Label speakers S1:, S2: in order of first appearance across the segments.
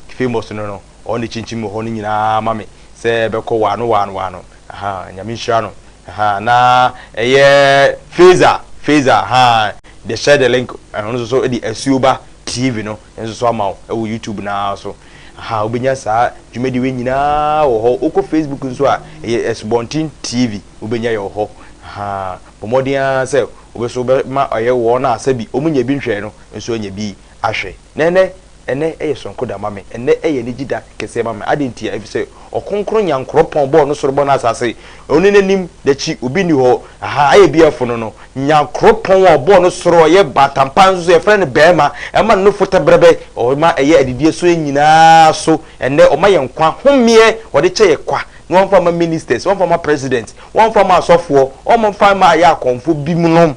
S1: Famous no no ɔn ne kyinkyin wɔ hɔ no nyinaa ma me sɛ bɛkɔ waano waano waano ahaa nyame nhyira no ahaa na ɛyɛ Feza Feza ahaa the share the link ɔno nso so de Asuoba TV no nso so ama wo ɛwɔ YouTube no ara so ahaa wobɛnya saa dwumadie wei nyinaa wɔ hɔ wokɔ Facebook nso a ɛyɛ Asubɔnten TV wobɛnya yɛ wɔ hɔ ahaa bɔ mmɔden ara sɛ wobɛso bɛma ɔyɛ wɔn a sɛbi wɔn nyɛ bi nhwɛɛ no nso anya bi. ahwɛ. Na ɛnnɛ, ɛnnɛ yɛ soronko da ma me. Ɛnnɛ yɛ anigye da kɛseɛ ma me. Adɛn ntia? Ɛfiri sɛ Ɔkronkron Nyankoropɔn bɔɔ no soro bɔɔ no asase. Ɔne n'anim, n'akyi, obi nni hɔ. Ahaa, ayɛ biara funu no. Nyankoropɔn a ɔbɔɔ no soro, ɔyɛ bantampaa nso so, yɛfrɛ no barima. Ɛma ne nofo tɛbrɛbɛ. Ɔma ɛyɛ adidie so nyinaa so. Ɛnnɛ ɔma yɛn nkwa homeɛ. Ɔde kyɛ yɛ kwa. Na wamfa mma ministers, wamfa mma president, wamfa mma asɔfoɔ, ɔmfa mmaa yɛ akɔmfo binom.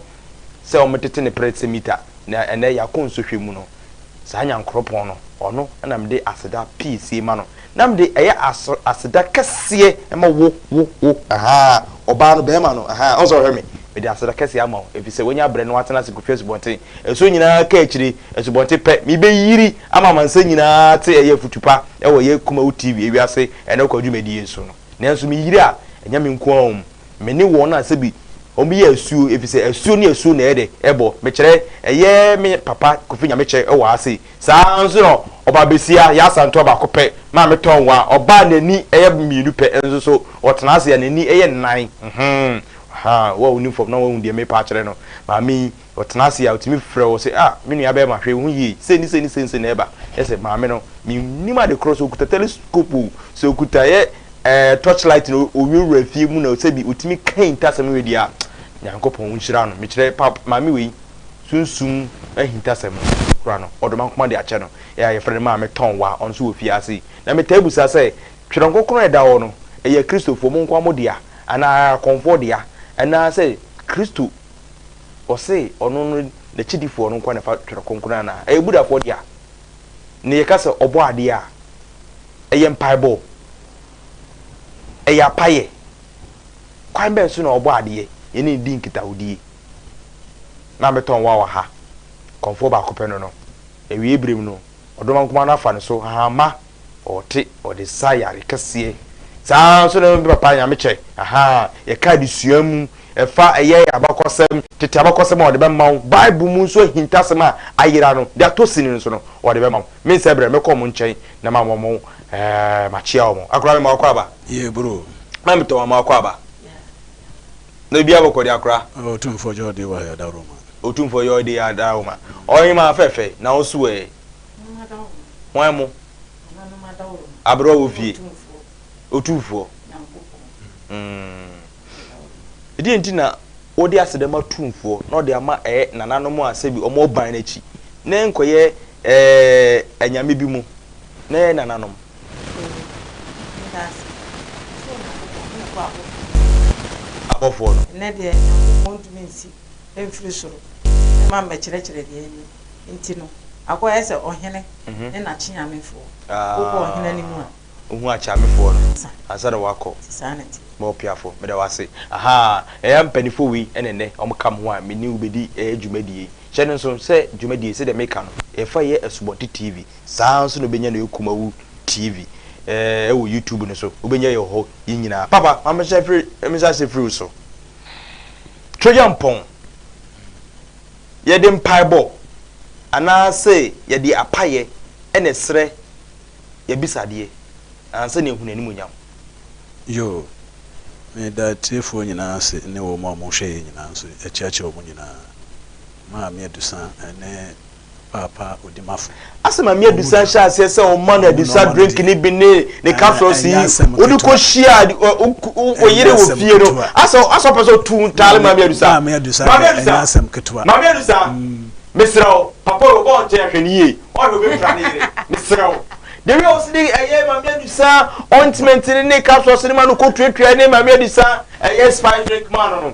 S1: sɛ wɔtete ne prɛtse mita, na ɛnnɛ yɛakɔ nsɔhwɛ mu no, saa Nyankoropɔn no, ɔno na mede aseda pii sie ma no, na mede ɛyɛ aso, aseda kɛseɛ ma wo, wo, wo, ahaa, ɔbaa no, barima no, ahaa, ɔnsɛ ɔhwɛ me, mede aseda kɛseɛ ama wo, ɛfiri sɛ woanya berɛ na woatena ase kɔtwa asubɔnten, asuo nyina ara ka akyire, asubɔnten pɛ, mebɛyiri ama amansan nyina ara ate ɛyɛ afutu pa wɔ ɛyɛ Kumawu TV ewiase ɛnɛ kwadwumadie so no. Nanso me yere a, ɛnyɛ me nko ara o, me ne wɔn a sɛbi wɔyɛ asuo, efisɛ asuo ne asuo na ɛyɛ dɛ ɛbɔ, mekyerɛ, ɛyɛ me papa Kofi Nyamekyɛ wɔ ha sei. Saa ara nso na ɔbaa besia, Yaa Santoa baako pɛ, Maame Tɔnwa, ɔbaa a n'ani yɛ mmienu pɛ nso so, ɔtena ase a n'ani yɛ nnan. Hum, ahaa, wo a wonim fam na woahu deɛ merepa akyerɛ no. Maame yi, Ɔtena ase a, otumi frɛ wo sɛ, Ah, me nuabarima, hwɛ wo ho yie. Sei ne sei ne sei na ɛba. Kyerɛ sɛ, maame no, mennim ade korɔ, sɛ ɔkuta telescope o, sɛ ɔkuta ɛyɛ ɛɛ torchlight na ɔwurawura fie mu na sɛbi ɔtumi ka ahintasɛm wei deɛ a, Nyankopɔn nhyira no. Mekyerɛ, pa, maame wei, sunsum ahintasɛm no, ɔkura no, ɔde ma nkoma de akyɛ no. Ɛyɛ a yɛfrɛ no Maame Tɔnwa, ɔno nso wɔ fiase. Na metaa bisa sɛ, Twerɛ Kronkron a ɛda hɔ no, ɛyɛ Kristofoɔ mo nkoa mo dea, anaa akɔmfoɔ dea, anaasɛ Kristo ɔse ɔno no n'akyidifoɔ no nkoa na ɛfa Twerɛ Kronkron anaa? Ɛyɛ Buddhafoɔ dea. Ne yɛka sɛ ɔbɔ adeɛ a, ɛyɛ mpaebɔ, ɛyɛ apayɛ. Kwan bɛn so na ɔbɔ adeɛ? Yɛne no di nkitahodie. Na mɛtɔn wo awa ha. Kɔmfoɔ baako pɛ no no. Awieeɛ berɛ mu no, ɔdɔm ankumaa no afa ne so, hahamma Ɔte ɔde saa yare kɛseɛ. Saa ara nso na me papa Nyamekyɛ, ahaa, yɛka adesua mu, ɛfa ɛyɛ abakɔsɛm, tete abakɔsɛm a ɔde bɛma wo, Bible mu nso ahintasɛm a ayera no, deɛ atɔ sini no nso no, ɔde bɛma wo. Me nsa brɛ, mɛkɔ wɔn nkyɛn na mama wɔn, ɛɛ, makyea wɔn. Akora, mema wo akwaaba? Yee, bro.
S2: Mma metɔ mama wo
S1: akwaaba. Na obiara bɛkɔ deɛ akora. Otumfoɔ Yɔɔdee
S2: Wahayadawroma. Otumfoɔ Yɔɔdee
S1: Adawroma. Ɔhemaa fɛɛfɛ, na wo nso ɛ? Hwan mo? Aberɛ wɔ fie. Otumfoɔ. Ɛdeɛ nti na wɔde aseda ma Tumfoɔ na ɔde ama ɛyɛ nananom a sɛbi wɔn ban no akyi na ɛnkɔyɛ anyame bi mu na ɛyɛ nananom. Abɔfoɔ no. Ɛnɛ deɛ Nyankopɔn
S3: ntumi nsi mfiri soro mma mmɛkyerɛkyerɛ deɛ ɛnyɛ. nti no, akɔyɛ sɛ ɔhene ne n'akyeamefoɔ wokɔ
S1: ɔhene anim a. Wohu akyeamefoɔ no ansa na wɔakɔ. Nti saa na ɛteɛ. M'ɔpiafoɔ,
S3: meda
S1: wo ase. Ahaa, ɛyɛ a mpanimfoɔ wei na ɛnnɛ wɔka me ho a me ne wo bɛdi dwumadie yi. Hyɛ no nso sɛ dwumadie yi, sɛdeɛ meka no, yɛfa yɛ Asubɔnten TV, saa ara nso na wobɛnya no wɔ Kumawu TV ɛɛ wɔ YouTube no so, wobɛnya yɛ wɔ hɔ yi nyinaa. Papa, ma menhyɛ mfiri, menhyɛ aseɛ mfiri wo so. Trojan pɔn. Yɛde mpaebɔ anaase yɛde apayɛ na ɛsrɛ y'abisadeɛ na ansa na yɛahunu animuonyam. Yoo,
S2: meda atiefoɔ nyinaa ase ne wɔn a wɔhwɛ yɛn nyinaa nso, yɛkyerɛkyerɛ wɔn nyinaa, Maame Adusa ne paapa odimafo. Asɛm a Mia bisa
S1: hyɛ aseɛ sɛ ɔma no adisa drink ne bi ne ne capsules yi wode kɔhyia oyere wɔ fie no asɛ asɛ ɔpɛ sɛ ɔtu ntaale ma Mia dusa Mia dusa ɛnyɛ asɛm ketewa ma Mia dusa mesrɛ wo papa yi ɔbɔ nkyɛn hwɛ no yie ɔhwɛ ɔbɛpira ne yere mesrɛ wo de wi a ɔsi de ɛyɛ ma Mia dusa ointment ne ne capsules ne ma no kɔtuatua ne ma Mia dusa ɛyɛ spice drink ma no no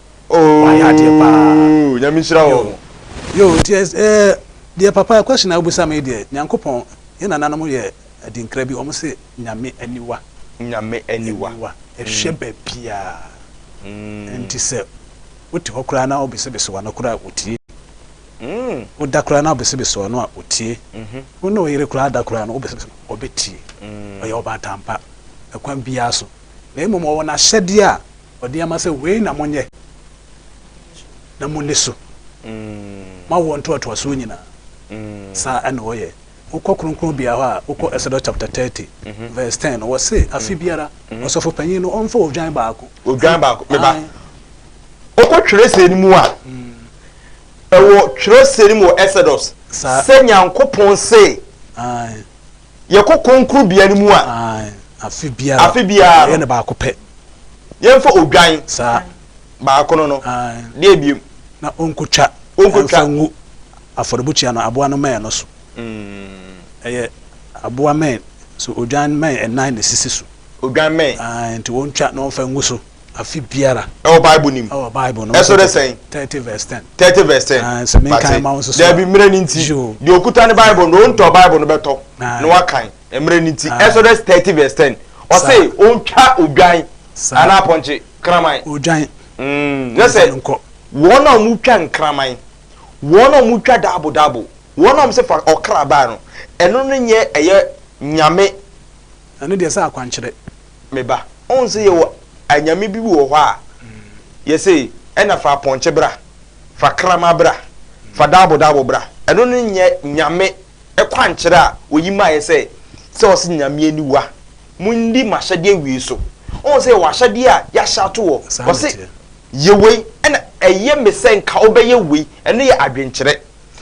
S2: Wayɛ adeɛ
S1: paa.
S2: Ooh nyame nhyira wo. Yoo
S1: yoo nti ɛs
S2: ɛɛ deɛ papa question a wobisa me yi deɛ Nyankopɔn yɛ nananom yɛ adinkra bi wɔn se Nyame aniwa Nyame aniwa aniwa ɛhwɛ babiaa nti sɛ wote hɔ koraa na wobesebese wano koraa a otie woda koraa na wobesebese wano a otie wo ne wo yere koraa da koraa no wobesebese no ɔbɛtie ɔyɛ ɔbaatan pa ɛkwan biaa so na mmom ɔwɔ nahyɛdeɛ a ɔde ama sɛ wei na monyɛ na monni so ma awoɔ ntoatoasoɔ nyinaa. Saa na wɔyɛ. Wokɔ kronkronbea hɔ a, wokɔ Exodus chapter thirty verse ten no, wɔse afe biara ɔsɔfo panyin no ɔmfa odwan baako. Odwan baako, meba. Ae. Wokɔ twerɛsɛm no mu a, ɛwɔ twerɛsɛm no mu wɔ Exodus Saa. sɛ Nyankopɔn se, Ae. yɛkɔ kronkronbea no mu a, afe biara yɛyɛ no baako pɛ. Yɛmfa odwan baako no no deɛ biom. Na ɔnkɔtwa mfa ngu afɔrebukyia no aboa no mmɛn no so. Ɛyɛ aboa mmɛn, so odwan mmɛn nnan na ɛsisi so. Odwan mmɛn. Nti ɔntwa na ɔmfa ngu so. afe biara. Ɛwɔ Bible no mu. Ɛwɔ Bible no mu. Ɛsɔ dɛ sɛn? Thirty verse ten. Thirty verse ten. Ah, sɛ mi nkan ma wo soso. Dɛbi mmerɛ ni nti. Deɛ okuta ne Bible no, ontɔ Bible no bɛtɔ na wakan. Mmerɛ ni nti. Ɛsɔ dɛ thirty verse ten. Ɔse ontwa odwan anaa apɔnkye kraman. Odwan. Mm, ne sɛ wɔn a wɔn twa nkraman, wɔn a wɔn twa daabo daabo, wɔn a wɔn sɛ fa ɔkra baa no, ɛno no nyɛ ɛyɛ nyame Ɛno deɛ ɛsɛ akwankyerɛ. Me ba, ɔn sɛ yɛwɔ anyame bi wɔ hɔ a, yɛse ɛna fa apɔnkye bra, fa kraman bra, fa daabo daabo bra. Ɛno no nyɛ Nyame kwankyerɛ a oyi maeɛ sɛ, sɛ ɔse Nyame aniwa, monni m'ahyɛdeɛ awie so. Ɔn sɛ yɛwɔ ahyɛdeɛ a yɛahyɛ ato hɔ, ɔse yɛ wei, ɛna ɛyɛ me sɛ nka wobɛyɛ wei. Ɛno yɛ adwenkyerɛ.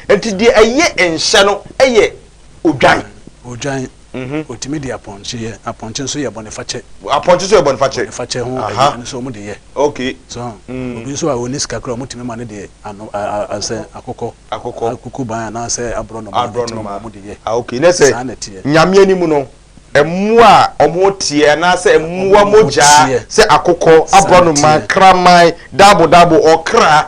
S2: Nti deɛ ɛyɛ nhyɛ no yɛ odwan. Odwan. Wɔtumi de apɔnkye yɛ. Apɔnkye nso yɛ bɔnefakyɛ. Apɔnkye nso yɛ bɔnefakyɛ. Bɔnefakyɛ ho aduane nso wɔde yɛ. Okay. So ho? Mm. Obi nso a ɔnni sika koraa, wɔtumi ma no de ano asɛ akokɔ. Akokɔ. Akukuban anaasɛ aborɔnoma. Aborɔnoma. Ɛtɛm wɔde yɛ. Ah okay. Na sɛ. Saa na ɛteɛ.
S1: Nyame anim no, mmoa a wɔteɛ anaasɛ mmoa mogyaa sɛ akokɔ, aborɔnoma, kraman, daabo daabo, ɔkra.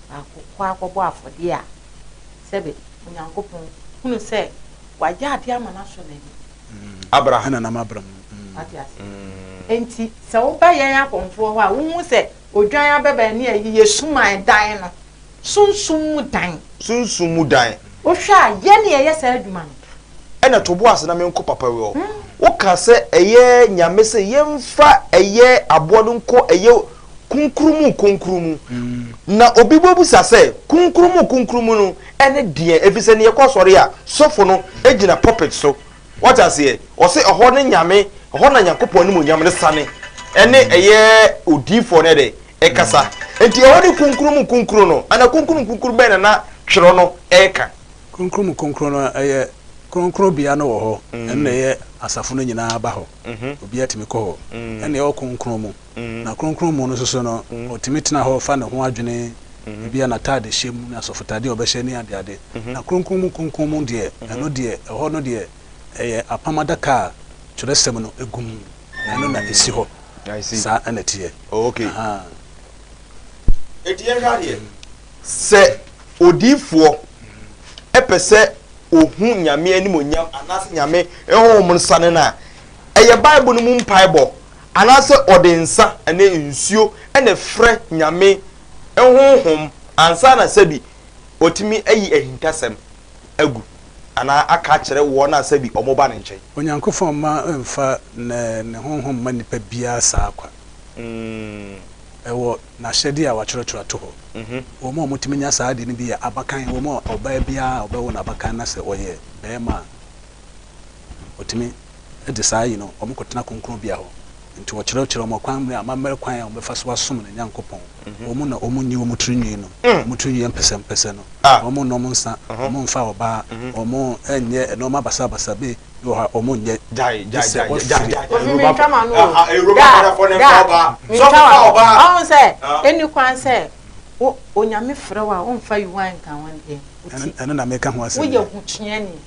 S3: akɔ akɔbɔ afɔdeɛ a, sɛbe Onyankopɔn hunu sɛ wagya adeɛ ama no asɔ n'ani. Abra ha na nam abra
S1: mu.
S2: Wate aseɛ? Enti
S3: sɛ woba yɛn akɔmfoɔ hɔ a, wohu sɛ odwan abɛbɛn ne ayi yɛ suman dan no, sunsum mu dan. Sunsum mu dan. Wohwɛ a, yɛn na yɛyɛ saa adwuma no? Ɛna to bo ase
S1: na menkɔ papa wei hɔ. Woka sɛ ɛyɛ Nyame se yɛmfa ɛyɛ aboa no nkɔ ɛyɛ. Kronkron mu Kronkron mu. Na obi bɛbisa sɛ, Kronkron mu Kronkron mu no ne deɛn? Ɛfiri sɛ, neɛ ɛkɔ asɔre a, sɔfo no gyina pulpit so, wate aseɛ, ɔse ɛhɔ ne Nyame, ɛhɔ na Nyankopɔn animuonyam no sane, ɛne ɛyɛ odiyifoɔ no ɛdɛ, ɛkasa. Enti ɛhɔ ne Kronkron mu Kronkron no anaa Kronkron mu Kronkron bɛn na na twerɛ no reka? Kronkron mu Kronkron
S2: no ɛyɛ kronkronbea no wɔ hɔ, ɛno na ɛyɛ asafo no nyinaa ba hɔ, obiara tumi kɔ hɔ, ɛne ɛwɔ kronkron mu. Na Kronkron mu no nso so no, ɔtumi tena hɔ fa ne ho adwene ebia n'ataadehyɛ mu ne asɔfotaadeɛ a ɔbɛhyɛ ne adeade. Na Kronkron mu Kronkron mu deɛ, ɛno deɛ, ɛhɔ no deɛ, ɛyɛ apam adaka a twerɛsɛm no gu mu, ɛno na ɛsi hɔ. Saa na ɛteɛ. Ahaa.
S1: Enti yɛnhwɛ adeɛ. Sɛ odiyifoɔ pɛ sɛ ɔhu Nyame animuonyam anaasɛ Nyame honhom no sane no a, ɛyɛ Bible no mu mpaebɔ Anaasɛ ɔde nsa ne nsuo na ɛfrɛ Nyame nhonhom ansa na sɛbi watumi ayi ahintasɛm agu anaa aka akyerɛ wɔn a sɛbi wɔba ne nkyɛn. Onyankofɔn mma
S2: mfa Ne honhom mma nipa biara saa kwa. Ɛwɔ N'ahyɛdeɛ a wɔatwerɛtwerɛ ato hɔ. Wɔn a wɔtumi nya saa adeɛ no bi yɛ abakan, wɔn a ɔbaa biara a ɔbɛwo no abakan na sɛ ɔyɛ barima a ɔtumi. Ɛnde saa yi no, wɔkɔtena kronkronbea hɔ. Enti wɔkyerɛkyerɛ wɔn ɔkwan mmere amammerɛ kwan a wɔbɛfa so asom ne Nyankopɔn. Wɔn mu na wɔnyi wɔn tiri nwi nom, wɔn tiri nwi yɛ mpɛsɛmpɛsɛ no, wɔnnom nsa, wɔmfa ɔbaa, wɔnyɛ nnoɔma basabasa bi wɔ hɔ a wɔnyɛ, gye sɛ
S1: wɔfiri. Wɔmfiri
S3: ntama no o, ɔhu sɛ ɛnni kwan sɛ Onyame frɛ
S1: wo a womfa Yuan
S3: nka ho ndeɛ nti,
S2: woyɛ ho tuani.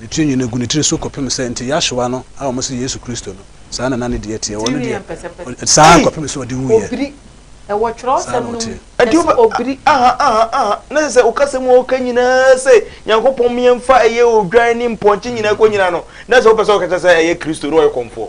S2: Ne tiri nwini gu ne tiri so kɔpem sɛ, nti Yahshua no a wɔse Yesu Kristo no, saa na na ne deɛ teɛ, wɔn no deɛ, saa ara kɔpem sɛ ɔde wuiɛ, saa na ɔteɛ.
S3: Ɛnti wo bɛ obiri aha aha aha na
S1: sɛ sɛ wo kasa mu a woka nyinaa sɛ Nyankopɔn meɛnfa ɛyɛ odwan ne mpɔnkye nyinaa kɔ nyina no na sɛ wo pɛ sɛ wo kɛkyɛ sɛ ɛyɛ Kristo na ɔyɛ kɔmfoɔ.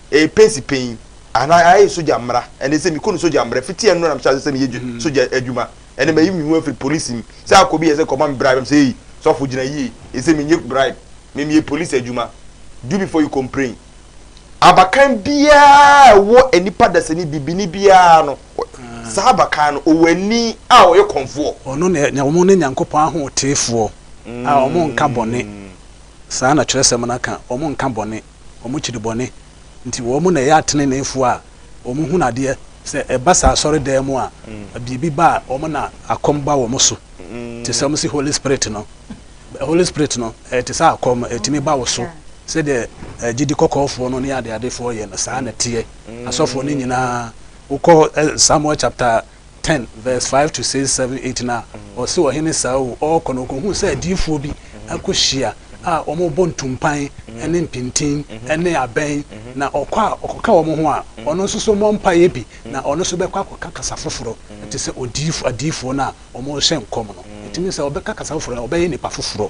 S1: Ɛyɛ pensi panyin anaa ayɛ sogya mmara. Ɛnde sɛ mekɔ no sogya mmara, fiti ɛno na mehyɛ ase sɛ meyɛ sogya adwuma. Ɛnde mayi me ho afiri polisi mu. Sɛ akɔ bi yɛ sɛ kɔma me bribe a, mese, Ei, sɔfo, gyina yie. Ɛsɛ sɛ minnye bribe. Me, meyɛ polisi adwuma. Do before you complain. Abakan biara a ɛwɔ nnipa dasani, bibini biara no, saa abakan no, ɔwɔ ani a ɔyɛ kɔmfoɔ. Ɔno na nya wɔn ne
S2: Nyankopɔn ahoteefoɔ a wɔnnka bɔne. Saa na Twerɛsɛm no ka, wɔnnka bɔne. wɔkyiri bɔne nti wɔn na ɛyɛ ateneneefoɔ a wɔhunu adeɛ, sɛ ɛba sɛ asɔredan mu a biribi ba a wɔn na akɔm ba wɔn so te sɛ wɔn se Holy Spirit no, Holy Spirit no ɛyɛ te sɛ akɔm ɛtumi ba wo so sɛdeɛ gyidi kɔkɔɔfoɔ no ne adeadefoɔ yɛ no saa na ɛteɛ, asɔfoɔ no nyinaa wokɔ Samuel chapter ten verse five to six, seven, eight no a, ɔse ɔhene Saul ɔɔkɔ no ɔkɔhuu sɛ adiyifoɔ bi akɔhyia a wɔbɔ ntumpan ne mpintin ne abɛn, na ɔkɔ a ɔkɔka wɔn ho a, ɔno nso so mmɔ mpaeɛ bi, na ɔno nso bɛkɔ akɔka kasa foforɔ te sɛ odiyifoɔ adiyifoɔ no a wɔrehyɛ nkɔm no. Ɛtumi sɛ ɔbɛka kasa foforɔ a ɔbɛyɛ nipa foforɔ.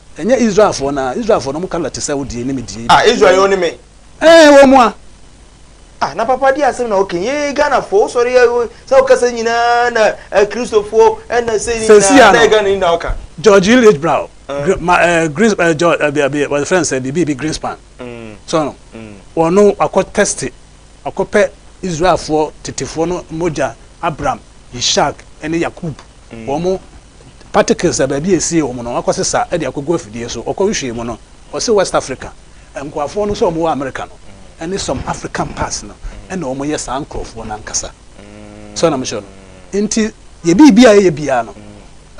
S2: Ɛnyɛ Israelfoɔ no ara, Israelfoɔ no, wɔn colour te sɛ wo deɛ ne me deɛ yi. Ah Israel yɛ wo ne me.
S1: Ɛɛ wɔn a.
S2: Ah na
S1: papa deɛ asɛm na wo ka yi, ee Ghanafoɔ wo sɔre yɛ, saa wo kasa nyinaa na eh Christofoɔ ɛna sei ne nyinaa, Seesia no, na yɛ Ghana ni na wo ka. George L. H. Brown,
S2: gr ma eh Green eh George eh bia bia wɔfrɛ no sɛ biribi bi Greenspan, so wɔn no, ɔno wakɔ tɛste, wakɔ pɛ Israelfoɔ tetefoɔ no mogya, Abraham, Yishak ɛne Yakubu. wɔn particles a baabi a ɛsie wɔn no wɔakɔsesa de akɔgu afidie so. Ɔkɔm hwee mu no, ɔse West Africa nkoafoɔ no sɛ wɔwɔ America no ne some African parts no na wɔyɛ saa nkorɔfoɔ no ankasa. So ana mekyerɛ no? Nti yɛ biribi a yɛyɛ biara no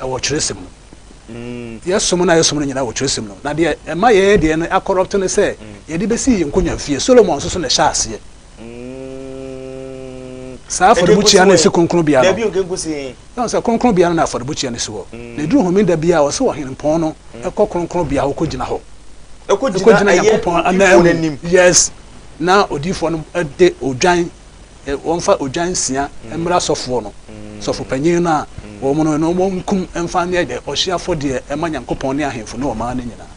S2: ɛwɔ twerɛsɛm mu. Yɛsom no a yɛsom no nyinaa wɔ twerɛsɛm no mu. Na deɛ ɛma yɛyɛ deɛ no akɔrɔpto ne sɛ yɛde bɛsii yɛn nkonnwa fie. Solomon nso so na ɛhyɛɛ aseɛ. Saa afɔrebukyia no nsi kronkronbea
S1: no.
S2: Yɛahu
S1: sɛ kronkronbea no
S2: na afɔrebukyia no si hɔ. Na ɛduru Homeda biara a, ɔse ɔhempɔn no kɔ kronkronbea hɔ kɔgyina hɔ. Ɔkɔgyina Nyankopɔn ananmu. Yes. Na odiyifoɔ no de odwan, wɔmfa odwan nsia mmrɛ asɔfoɔ no, sɔfopanyin no a wɔn no, na wɔnkum mfa nyɛ ɔhyeɛ afɔdeɛ mma Nyankopɔn ne ahemfo ne ɔman no nyinaa.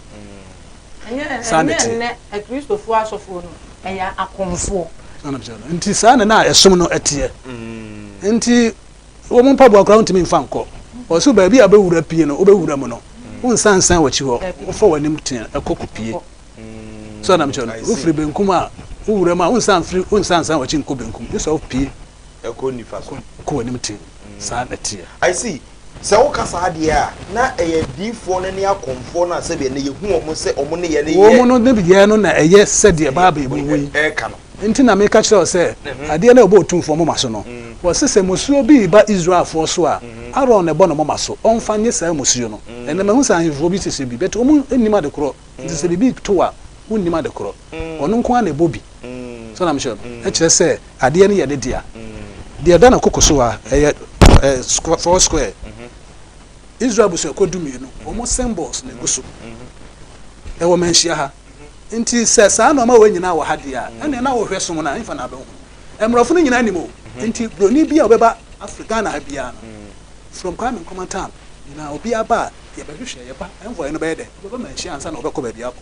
S2: Saa na ɛteɛ. Ɛnyɛ nnɛ
S3: Akristofoɔ asɔfoɔ no yɛ akomfoɔ. Saa na ɛteɛ no. Nti
S2: saa na na ɛsom no teɛ. Nti wɔn mpaboa koraa wontumi mfa nkɔ. Wɔse wo baabi a wobɛwura pie no, wobɛwura mu no, wonsan nsan w'akyi hɔ. Wofa w'anim tee kɔ kɔpie. Saa na ɛteɛ no. Wofiri benkum a, wowura mu a, wonsan mfiri, wonsan nsan w'akyi nkɔ benkum. Gye sɛ wopie. ɛkɔ
S1: nifa
S2: so. Kɔ w'anim tee, saa
S1: na ɛteɛ.
S2: I see,
S1: sɛ woka saa deɛ a, na ɛyɛ adiyifoɔ no ne akɔmfoɔ no a sɛdeɛ nnɛ yɛhu wɔn sɛ wɔn nneyɛɛ no yɛ. Wɔn nneyɛɛ no na
S2: ɛyɛ sɛdeɛ Bible mu wɔ yi. Ɛreka no. Enti na
S1: meka kyerɛ wo sɛ,
S2: adeɛ no a ɛbɔ otumfoɔ moma so no, wɔse sɛ mmusuo bi reba Israelfoɔ so a, Aaron na ɛbɔ ne moma so, ɔmfa nyɛ saa mmusuo no. Ɛnnɛ mahu sɛ ahemfoɔ bi hyehyɛ bi, but wɔnnim adekorɔ, enti sɛ biribi to a, wɔnnim adekorɔ. Ɔno nko ara na ɛbɔ bi. So na mekyerɛ no? Ɛkyerɛ sɛ adeɛ no yɛ ne dea. Deɛ ɛda ne koko so a, ɛyɛ four square. Israel abusuakuo dumienu, wɔn symbols na ɛgu so. Ɛwɔ Manhyia ha. Nti sɛ saa nnoɔma wei nyinaa wɔ ha deɛ a, ɛnneɛ na wohwɛ som no a, ɛmfa na abɛhunu. Mmorɔfo no nyinaa nim o. Nti Buroni biara a ɔbɛba Afri Ghana ha biara no, from Kwame Nkrumah time nyinaa, obiara ba a, deɛ ɛbɛhwehwɛ, yɛba, envoy no bɛyɛ dɛn? Ɔbɛba Manhyia ansa na ɔbɛkɔ baabi akɔ.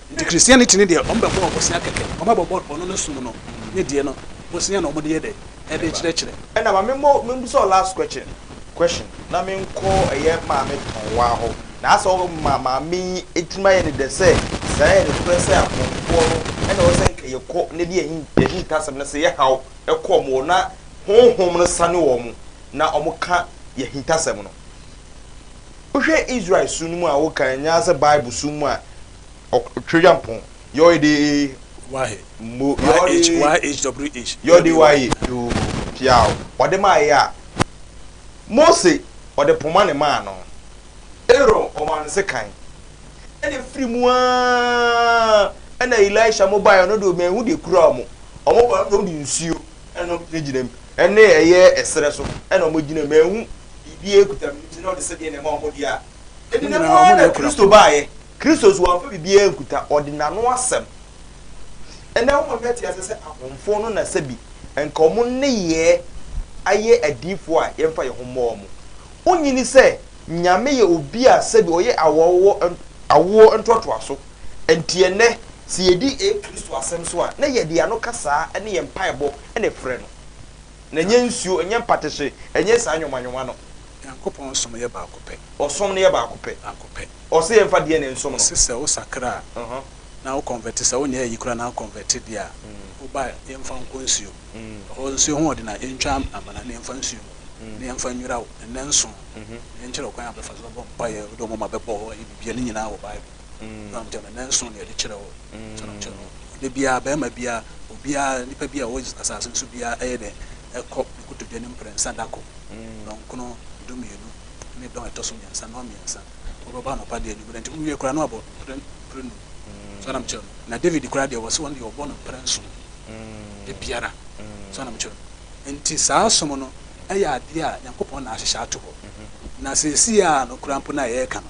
S2: Ntsi Christianity no deɛ wɔbɛbɔ ɔbosea kɛkɛ, wɔbɛbɔ ɔno no som no nye deɛ no bosea na wɔde yɛ dɛ? Ɛde kyerɛkyerɛ. Ɛna ma me mmɔ me
S1: mbusa wo last question question na me nkɔ ɛyɛ maame tɔn waa hɔ na asɛ wo ma maame yi etimi ayɛ ne dɛ sɛ saa yɛ nokorɛ sɛ akɔmfoɔ no ɛna ɛwɔ sɛ nka yɛ kɔ na ɛde yɛ yɛ hintasɛm na sɛ yɛ haw ɛkɔ wɔn hɔ na honhom no sane wɔn na wɔn ka yɛ hintasɛm no. Wohwɛ Israel su no mu a wokan nyɛ ara sɛ Bible su mu a Ɔtweampɔn, Yɔe de ee, Wahe,
S2: Mo, Yɔe de ee,
S1: YHWH,
S2: Yɔe de Wae ee,
S1: Yoo, Piaw, Ɔde maa ee a. Mose, Ɔde poma ne maa no. Aaron, Ɔmaa no sekan. Ɛna efiri mu ara ɛna Elisha mo baeɛ, ɔno deɛ manhu deɛ ekura wɔn. Wɔn baeɛ, ɔno deɛ wɔde nsuo ɛna wɔn gyinagyina mu, ɛne ɛyɛ ɛserɛ so ɛna wɔn gyina mu, manhu biribiara nkuta no, nti na ɔde sɛdeɛ na ɛma wɔn deɛ a ɛdi ne ho ara na Kristo baeɛ. Kristo nso wamfa biribiara nkuta, ɔde n'ano asɛm. Ɛnnɛ wɔn a wɔte aseɛ sɛ ahomfo no na sɛbi nka wɔn nneyɛɛ ayɛ adiyifoɔ a yɛmfa yɛn ho mmɔ wɔn. Wonnye nni sɛ Nyame yɛ obi a sɛbi ɔyɛ awoɔ awoɔ ntoatoaso? Ɛnti ɛnnɛ sɛ yɛdi Kristo asɛm so a na yɛde ano kasa ne yɛn mpaebɔ na ɛfrɛ no. Na ɛnyɛ nsuo, ɛnyɛ mpatehye, ɛnyɛ saa nwoma nwoma no. Nyankopɔn som yɛ
S2: baako pɛ. Ɔsom no yɛ baako
S1: pɛ. Baako pɛ. Ɔse yɛn fa DNA nsom no. Ɔse sɛ wo sakra a,
S2: na wo convert, sɛ wo nyɛ ayi koraa na wo convert deɛ a, wo ba a, yɛn fa nkɔ nsuo. Ɛhɔ nsuo ho ɔden a, yɛn twa amena na yɛn fa nsuo mu, na yɛn fa nwira wo, nnɛ nson, na yɛn kyerɛ wo kwan a bɛfa so bɛbɔ mpaeɛ, wode wo moma bɛbɔ hɔ, ayɛ biribiara, ne nyinaa wɔ Bible. na ɔnkyɛ no nnanson na yɛde kyerɛ hɔ, ɔnkyɛ no ɔnkyɛ no da biara barima biara, obiara, nipa biara a ɔwɔ asase no so biara ɛyɛ dɛn ɛkɔ ne kotodwe no mprɛnsa dako dɔnkono dumienu ne dɔn ɛtɔ so mmiɛnsa, nnɔn mmiɛnsa, wɔbɛbɔ anɔpa de anwummere nti wɔwie koraa na wɔabɔ mpre mprenum, so anam kyerɛ no, na David koraa deɛ wɔse wɔn deɛ wɔbɔ no mprɛnson da biara, so anam kyerɛ no, nti saa som no ɛyɛ adeɛ a Nyankopɔn na ahyehyɛ ato hɔ, na seesei ara no koraa mpo no a yɛreka no.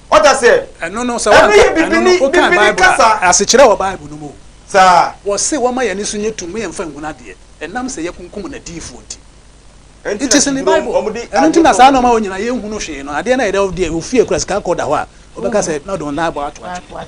S1: Ɔda sɛ. Ɛno no, sɛ wanka,
S2: ɛno no, wokaa Bible a, asekyerɛ wɔ Bible no mu o. Saa. Wɔse
S1: wɔmma yɛn ani
S2: so nyɛ tumm, yɛmfa nhunu adeɛ, ɛnam sɛ yɛakunkum n'adiyifoɔ nti. Ɛnti na tumi no, wɔn de. Ɛno nti na saa nnoɔma wɔ nyinaa yɛnhunu hwee no, adeɛ no a yɛde, ɔfie a ɛkura sika kɔɔ da hɔ a, wɔbɛka sɛ, na ɔde wɔn nan abɔ atwentwɛn.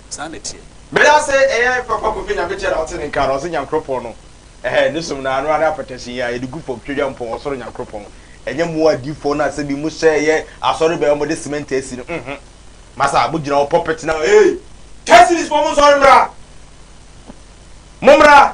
S2: Saa na ɛteɛ. Medase ɛyɛ
S1: papa kofi nyame kyɛ na ɔte ne nka na ɔse nyankoropɔn no ɛhɛɛ ne som no anoa ne apɛtɛsen yi a yɛde gu fam twɛdwa mpɔn ɔsoro nyankoropɔn ɛnyɛ mo adiifoɔ no a sɛbi mo hyɛ ɛyɛ asɔre bɛn ɔmo de cement asi no mhmm masa mo gyina hɔ pulpit na ee Tɛsilis foɔ mo nsɔre mmra mo mmra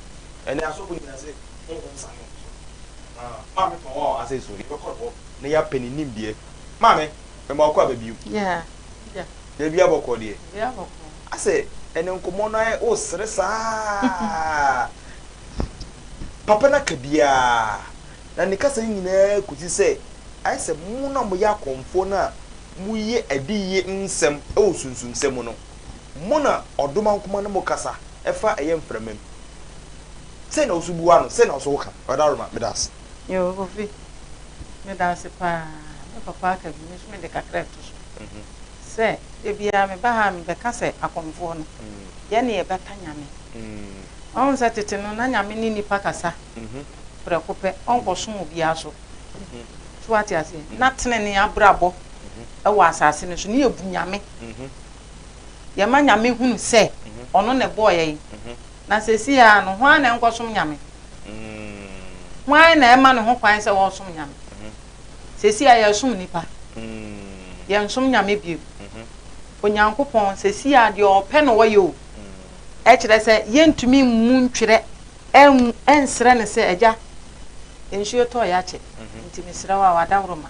S1: Ɛnnɛ, asɔfo nyinaa sɛ honhom sa no nso. Ahaa, Maame Pawa wɔ ha sei so, yɛbɛkɔ ne hɔ na yɛapɛ ne nimdeɛ. Maame, mema wo kɔ aba bio.
S3: Yeah, Bia.
S1: Daabia bɔkɔɔ deɛ. Bia bɔkɔɔ.
S3: Asɛ, ɛnnɛ
S1: nkɔmmɔ no ayɛ, wosere saa. Papa no aka biara, na ne kasa no nyinaa kɔsi sɛ ayɛ sɛ mo no a moyɛ akɔmfoɔ no a Moye adiyiye nsem wo sunsumsem mu no, mo na ɔdoma nkoma no mo kasa fa ɛyɛ mframa mu. Sei na wo so bua no, sei na wo so wo ka. Ɔda Roma, meda ase. Yo Kofi,
S3: meda ase paa. Me papa aka bi, me nso mede kakra reto so sɛ, da biara meba ha a mebɛka sɛ Akomfoɔ no, yɛne yɛbɛka Nyame. Wahu sɛ tete no na Nyame ne nnipa kasa prɛko pɛ, ɔnkɔsom obiara so. so wate aseɛ na tenene abrabɔ wɔ asase no so ne yɛbu nyame yɛma nyame hunu sɛ ɔno na ɛbɔɔ yɛn na sɛsi a no hwan na ɛnkɔsom nyame hwan na ɛma ne ho kwan sɛ wɔsom nyame sɛsi a yɛsom nnipa yɛnsom nyame bio onyankopɔn sɛsi a deɛ ɔpɛ na ɔyɛ o ɛkyerɛ sɛ yɛntumi mmu ntwerɛ Anwu, ɛnsrɛ no sɛ, Agya, nsuo tɔeɛ akyɛ, nti mesrɛ wo a w'adaworo ma.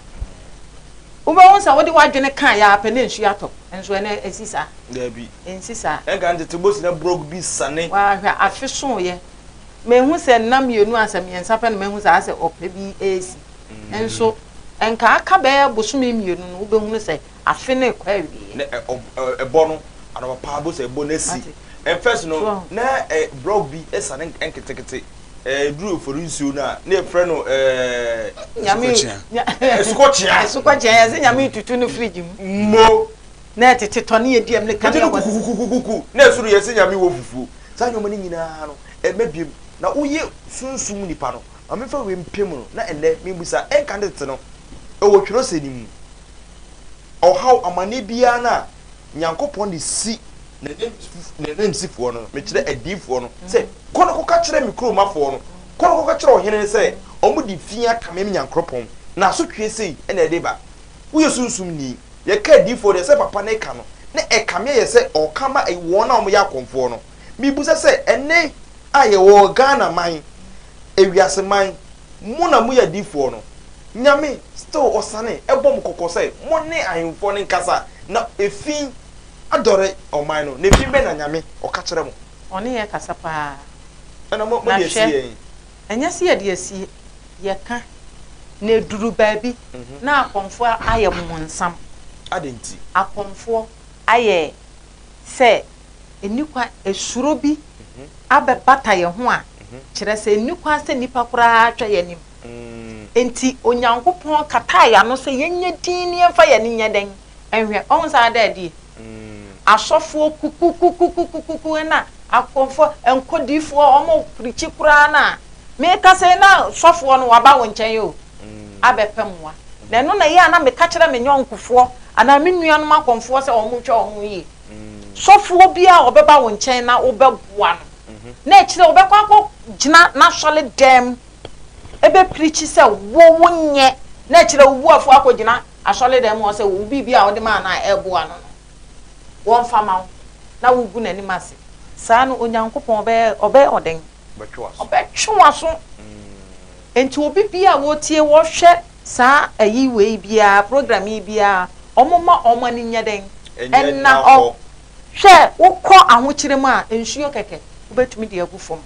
S3: Wobɛhu sɛ wode w'adwene ka yɛ ara pɛ na nsuo atɔ, nso ɛno ɛsi saa? Daabi. Ɛnsi
S1: saa. Ɛnka
S3: ntete bosi na
S1: brɔg bi sane. Waa hwɛ, afe
S3: sooeɛ. Mahu sɛ nna mmienu a sɛ mmiɛnsa pɛ na mahu sɛ asɛ ɔpɛ bi resi. Nso ɛnka aka bɛyɛ bosome mmienu no wobɛhunu sɛ afe no rekɔ awieɛ. Na ɛ ɔb ɛ ɛbɔ
S1: no anɔpapa bo sɛ ɛbɔ no asi. Wate? Ɛ first no, So ahu? na ɛ block bi sa no nk nketekete. Ɛ ɛduru Ofori nsuo no a, na yɛfrɛ no ɛ. Nyame
S3: Asukɔkyea. nya Asukɔkyea. Asukɔkyea, yɛse Nyame retutu no fridge mu. Mo.
S1: Na ɛtete
S3: tɔ ne yɛdi amina ka ne Wogye no yɛbɔ ne. kukukukukuku, na
S1: ɛso no yɛse Nyame wɔ fufuo. Saa nnoɔma no nyinaa no, ɛmma biom. Na woyɛ sunsum nipa no, ma memfa wei mpem no, na ɛnnɛ, mebusa, ɛnka ne tete no, ɛwɔ twerɛsɛm no mu? ɔhaw, amanneɛ biara no a Nyankopɔn de si N'ananmusifoɔ no, mekyerɛ adiyifoɔ no, sɛ, Kɔ na kɔka kyerɛ me kuromafoɔ no, kɔ na kɔka kyerɛ ɔhene no sɛ, wɔde fi aka me Nyankopɔn, na asotweɛ sei na ɛde ba. Woyɛ sunsumni. Yɛka adiyifoɔ deɛ, sɛ papa na ɛka no, na ɛkame ayɛ sɛ ɔka ma wɔn a wɔyɛ akɔmfoɔ no. Mebisa sɛ, ɛnnɛ a yɛwɔ Ghana man, ewiase man, mo na moyɛ adiyifoɔ no, Nyame still ɔsane bɔ mo kɔkɔ sɛ mo ne ahemfoɔ no nkasa na efi adɔre ɔman no na efi bɛ na Nyame ɔka kyerɛ mo. Ɔne yɛ kasa paa.
S3: Ɛna mo de
S1: asi yɛn. Ɛnyɛ sɛ yɛde
S3: asi yɛ ka na eduru baabi na akɔmfoɔ ayɛ bmonsam. Adɛn nti?
S1: Akɔmfoɔ
S3: ayɛ sɛ ɛnni kwan esuro bi abɛbata yɛn ho a kyerɛ sɛ ɛnni kwan sɛ nnipa koraa atwa yɛn anim. Enti Onyankopɔn kataa yɛn ano sɛ yɛnyɛ dinn na yɛmfa yɛn ani nyɛ dɛn nhwɛ. Wahu saa ade a ɛdeɛ? Asɔfoɔ kukukukukukuku na akɔmfoɔ, nkɔdiifoɔ, wɔprikyi koraa no a, meka sɛ na sɔfoɔ no waba wo nkyɛn o, abɛpɛ mmoa. Na ɛno na ɛyɛ a na meka kyerɛ me yɔnkofoɔ anaa me nuanom akɔmfoɔ sɛ wɔnhwɛ wɔn ho yie. Sɔfoɔ biara a ɔbɛba wo nkyɛn na wobɛboa no, na ɛkyerɛ ɔbɛkɔ akɔgyina n'asɔredɛm. ɛbɛpirikyi sɛ wo wonyɛ na ɛkyerɛ wo buafoɔ akɔgyina asɔredan mu hɔ sɛ wo biribi a wode maa no a ɛreboa no no, wɔmfa mma wo, na wogu n'anim ase saa no, Onyankopɔn ɔbɛyɛ ɔbɛyɛ wo dɛn? Ɔbɛtwe w'aso. Enti obi biara a ɔretie, ɔrehwɛ saa ayi wei biara, program yi biara, wɔmma wɔn ani nyɛ dɛn? Ɛnna hɔ. Hwɛ, wokɔ ahokyere mu a, nsuo kɛkɛ, wobɛtumi de agu fam.